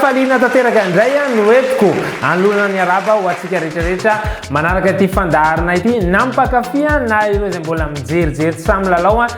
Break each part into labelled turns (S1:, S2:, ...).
S1: Faliana tanteraka indray a no entiko anoloana ny araba ho antsika rehetrarehetra manaraka ity fandaharana ity nampakafia na ireo izay mbola mijerijery samy lalao a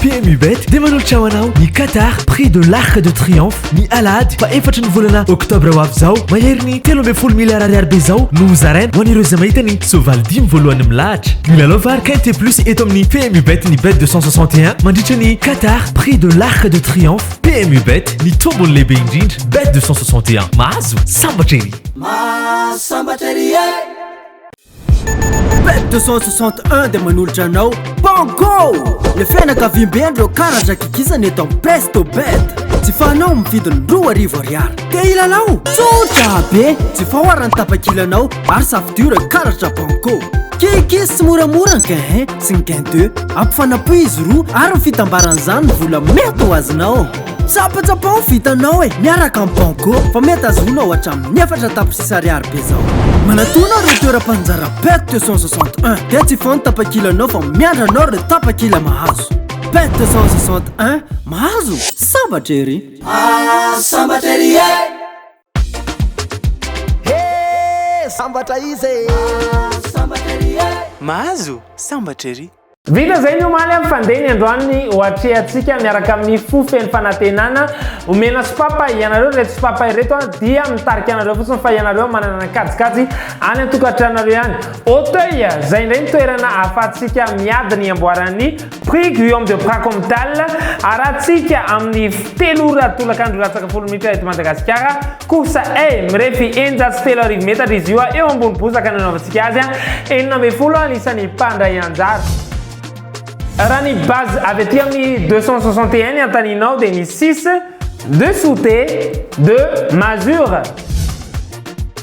S2: PMU
S3: Bet dia manolotra ho anao ny Qatar Prix de l'Arc de Triomphe ny Alahady fa efatry ny volana Oktobra ho avy izao. Mahery ny telo ambin'ny folo miliara ariary be izao no hozaraina ho an'ireo izay mahita ny soavaly dimy voalohany milahatra. Milalao vary Quinte Plus eto amin'ny PMU Bet ny Bet 261 mandritra ny Qatar Prix de l'Arc de Triomphe. PMU Bet ny tombony lehibe indrindra. Bet 261 mahazo sambatra ery. Mahazo sambatra ery e!
S4: Pet 261 dia manolotra anao Bongo! Le fianakaviambe an'ireo karatra kikisana eto amin'ny Presto Bet. Jifaonao amin'ny vidiny roa arivo ariary. Te hilalao? Tsotra be! Jifao arany tapakilanao ary safidio ireo karatra Bongo. Kikis sy moramora ny gain 1 sy ny gain 2. Ampifanapoy izy roa ary ny fitambaran'izany ny vola mety ho azonao. Tsapatsapao ny vitanao e, miaraka amin'ny Banco fa mety ahazoanao hatramin'ny efatra tapitrisa ariary be zao. Manatòna ireo toeram-panjara Pet 261 dia tsy foana ny tapakilanao fa miandry anao ireo tapakila mahazo. Pet 261, mahazo? Sambatra ery! Ah, sambatra
S5: ery e! Hee sambatra izy e! Mahazo sambatra ery e! Mahazo
S3: sambatra ery! Vita izay ny omaly
S1: amin'ny fandehany androany ho atrehantsika miaraka amin'ny fo feno fanantenana omena sopapa ianareo ireto sopapa ireto dia mitarika anareo fotsiny fa ianareo manana kajikajy any an-tokantranareo ihany Auteuil izay indray ny toerana ahafahantsika miady ny amboaran'ny Prix Guillaume de Pracomtal, Arahantsika amin'ny telo ora tolakandro latsaka folo minitra eto Madagasikara, course A, mirefy eninjato sy telo arivo metatra izy io eo ambony bozaka nanaovantsika azy, enina ambin'ny folo anisan'ny mpandray anjara. Raha ny base avy aty amin'ny deux cent soixante et un ny antaninao dia ny six, deux souter, deux masure.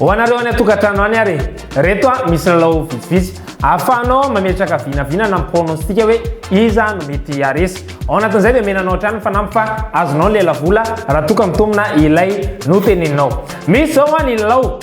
S1: Ho anareo any an-tokantrano any ary, reto a, misy lalao vitsivitsy ahafahanao mametraka vinavina na pronostika hoe iza no mety haharesy. Ao anatin'izay dia menanao hatrany ny fanamby fa azonao ny lelavola raha toa ka mitombina ilay noteneninao. Misy zao a ny lalao.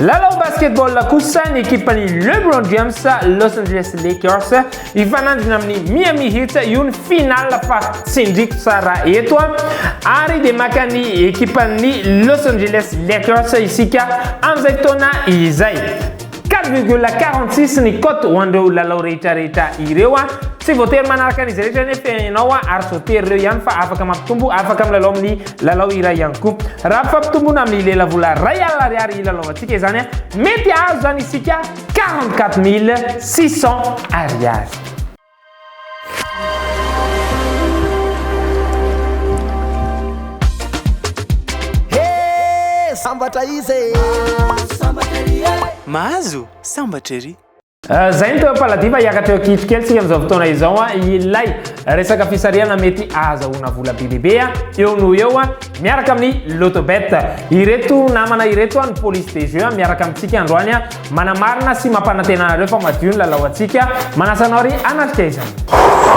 S1: Lalao basketball kosa ny ekipan'ny LeBron James Los Angeles Lakers hifanandrina amin'ny Miami Heat io ny finale fa tsindriko tsara eto a ary dia maka ny ekipan'ny Los Angeles Lakers isika amin'izay fotoana izay 4,46 ny cote ho an'ireo lalao rehetra rehetra ireo a tsy voatery manaraka an'izy rehetra nefa ianao ary tsy voatery ireo ihany fa afaka mampitombo afaka milalao amin'ny Lalao iray ihany koa. Raha ampifampitombona amin'ny lelavola iray alina ariary hilalaovantsika izany, mety hahazo izany isika quarante quatre mille six cents ariary.
S5: Sambatra izy e!
S6: Mahazo sambatra ery! Izay ny teo
S1: Palladia fa hiakatra eo Kif kely tsika amin'izao fotoana izao a ilay resaka fisarihana mety ahazahoana vola be dia be a eo noho eo a miaraka amin'ny Lotobet. Ireto namana ireto a ny police des jeux a miaraka amintsika androany a manamarina sy mampanantena anareo fa madio ny lalao antsika manasa anao ry hanatrika izany.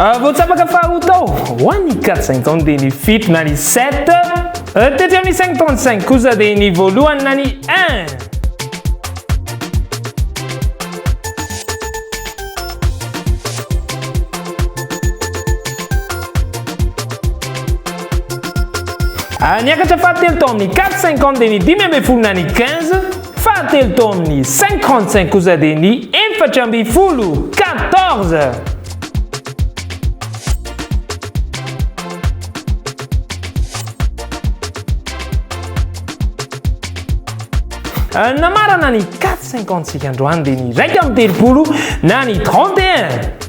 S1: Ah, vao tsapaka fa ho tao ho an'ny 45 taona dia ny fito na ny 7 eh, tety amin'ny 55 kosa dia ny voalohany na ny 1 Ah, niakatra fahatelo tao amin'ny 450 dia ny dimy ambin'ny folo na ny 15 Fahatelo tao amin'ny cinquante cinq kosa dia ny efatra ambin'ny folo, quatorze. Euh, namarana ny 450 sika androany dia ny raika amin'ny telopolo na ny 31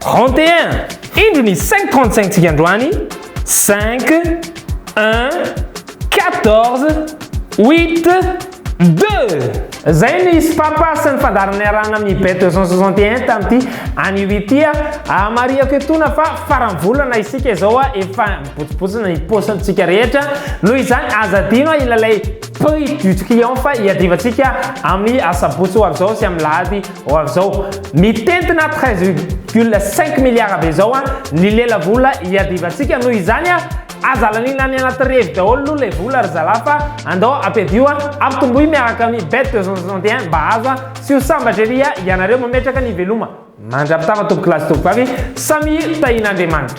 S1: Trente et un! Indro ny cinq trente cinq tsika androany, cinq, un, quatorze, huit, deux! Zay ny hisy papa sy ny fandaharana niarahana amin'ny bet deux cent soixante et un tamin'ity anio ity a! Ahamarihako etoana fa faran'ny volana isika izao a! Efa mibotsibotsina ny paosintsika rehetra, noho izany aza adino a ilalay prix du client fa iadivantsika amin'ny asabotsy ho avy izao sy amin'ny lahady Ho avy izao, mitentina treize virgule cinq milliards avy izao an, ny lela vola iadivantsika noho izany an, aza alaniana any anaty revy daholo aloha ilay vola ry zalahy fa andao ampiadio an, ampitomboy miaraka amin'ny bet deux cent soixante et un mba azo an, tsy ho sambatra ery an, ianareo mametraka ny veloma. Mandra-pitama tompokolahy sy tompokovavy, samia tahian'Andriamanitra.